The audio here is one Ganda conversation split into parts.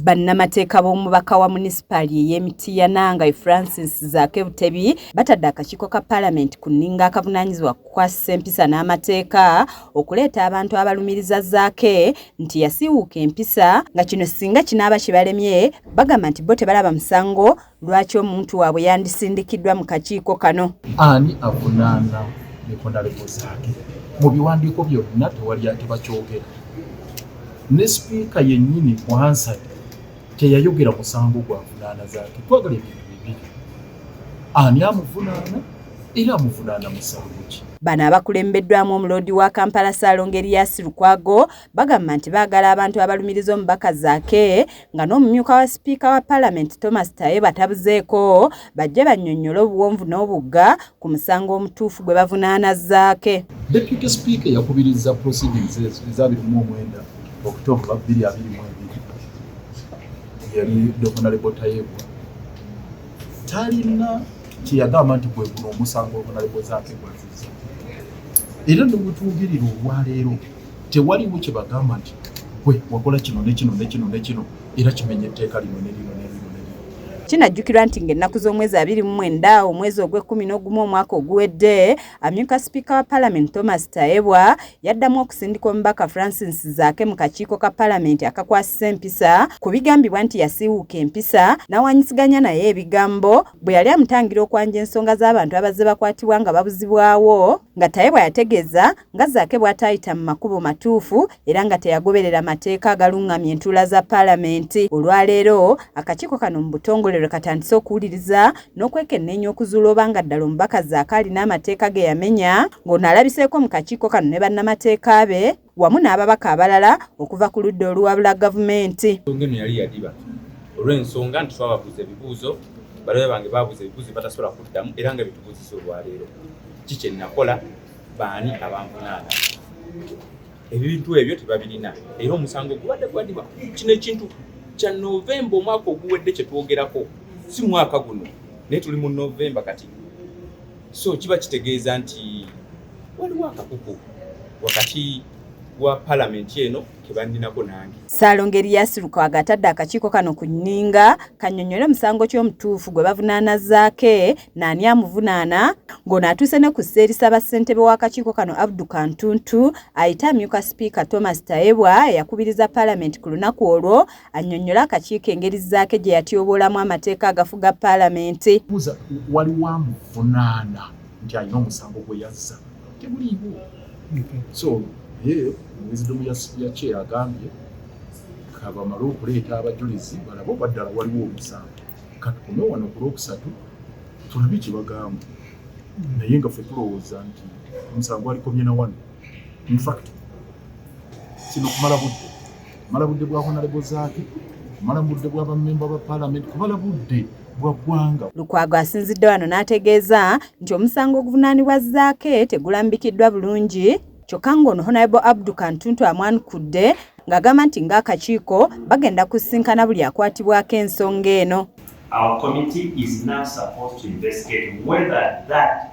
Bannamateeka b'omubaka wa munisipaali ey'e Mityana nga ye Francis Zaake Butebi batadde akakiiko ka Palamenti ku nninga akavunaanyizibwa ku kukwasisa empisa n'amateeka okuleeta abantu abalumiriza Zaake nti yasiiwuuka empisa nga kino singa kinaaba kibalemye bagamba nti bo tebalaba musango lwaki omuntu waabwe yandisindikiddwa mu kakiiko kano ani avunaana nekonalekozaake mu biwandiiko byonna tewali atebakyogera ne sipiika yennyini mu hansad teyayogera musango gwa vunaana zaake twagala ebintu bibiri ani amuvunaana era amuvunaana musango ki bano abakulembeddwamu omuloodi wa kampala saalongo eriyasi lukwago bagamba nti baagala abantu abalumiriza omubaka zaake nga n'omumyuka wa sipiika wa palamenti thomas taye batabuzeeko bajje bannyonnyole obuwonvu n'obugga ku musango omutuufu gwe bavunaana zaake deputy speaker yakubiriza proceedings ezabirimu omwenda okutooka bbiri abiri mu ebiri yali dohonalebo tayebwa talina kyeyagamba nti gwe guno omusango ogunalebo zaake gwaziza era nobutuugirira olwaleero tewaliwo kye bagamba nti gwe wakola kino ne kino ne kino ne kino era kimenya etteeka lino ne lino ne lino kinajjukirwa nti ng'ennaku z'omwezi abiri mu mwenda omwezi ogw'ekkumi n'ogumu omwaka oguwedde amyuka sipiika wa palamenti thomas tayebwa yaddamu okusindika omubaka francis zaake mu kakiiko ka palamenti akakwasisa empisa ku bigambibwa nti yasiiwuuka empisa n'awanyisiganya naye ebigambo bwe yali amutangira okwanja ensonga z'abantu abazze bakwatibwa nga babuzibwawo nga Tayebwa yategeeza nga Zaake bw'ataayita mu makubo matuufu era nga teyagoberera mateeka agalung'amya entuula za Palamenti. Olwaleero akakiiko kano mu butongole lwe katandise okuwuliriza n'okwekenneenya okuzuula oba nga ddala omubaka Zaake alina amateeka ge yamenya ng'ono alabiseeko mu kakiiko kano ne bannamateeka be wamu n'ababaka abalala okuva ku ludda oluwabula gavumenti nsonga eno yali yadiba olw'ensonga nti twababuuza ebibuuzo balabe bange babuuza ebibuuzo batasobola kuddamu era nga bitubuuzisa olwaleero ki kye nnakola baani abanvunaana ebintu ebyo tebabirina era omusango gubadde gwadiba kino ekintu kya novemba omwaka oguwedde kye twogerako si mwaka guno naye tuli mu novemba kati so kiba kitegeeza nti waliwo akakuku wakati wa palamenti eno kebaninako nange salonga eriyasi lukwaga atadde akakiiko kano ku nninga kanyonyole omusango ky'omutuufu gwe bavunaana zaake naani amuvunaana ng'ono atuuse ne ku seerisa bassentebe w'akakiiko kano abdu kantuntu ayite amyuka sipiika thomas tayebwa eyakubiriza palamenti ku lunaku olwo annyonnyole akakiiko engeri zzaake gye yatyoboolamu amateeka agafuga paalamenti kuza waliwo amuvunaana nti alina omusango gwe yazza temuliiwo so naye omuwezidomu yakye agambye kabamale okuleeta abajulizi balabe oba ddala waliwo omusango katukume wano ku lwokusatu tulabe kyebagamba naye nga fe tulowooza nti omusango alikomye na wano infact kino kumala budde mala budde bwa honalebo zaake mala budde bwa bamemba ba palamenti kubala budde bwa ggwanga lukwago asinzidde wano n'ategeeza nti omusango oguvunaanibwa zaake tegulambikiddwa bulungi kyokka ng'ono honalebo abdu kantuntu amwanukudde ng'agamba nti ng'akakiiko bagenda kusisinkana buli akwatibwako ensonga eno Our committee is now supposed to investigate whether that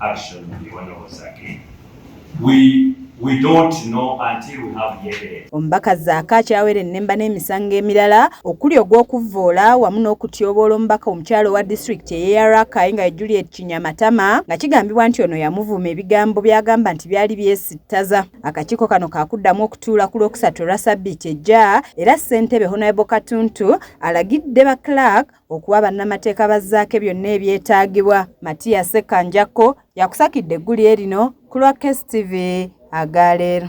action of the Honorable Zaki. We, we don't know until we have the evidence. Omubaka Zaaka akyawera ennemba n'emisango emirala okuli ogw'okuvvoola wamu n'okutyoboola omubaka omukyalo owa disitulikiti ey'eya Rakai nga ye Juliet Kinyamatama nga kigambibwa nti ono yamuvuma ebigambo by'agamba nti byali byesittaza. Akakiiko kano kaakuddamu okutuula ku lwokusatu olwa sabbiiti ejja era ssentebe Honourable Katuntu alagidde ba Clark Okuwa bannamateeka ba Zaake byonna ebyetaagibwa, Matia Ssekanjakko yakusakidde eggulire lino ku lwa KSTV aga leero.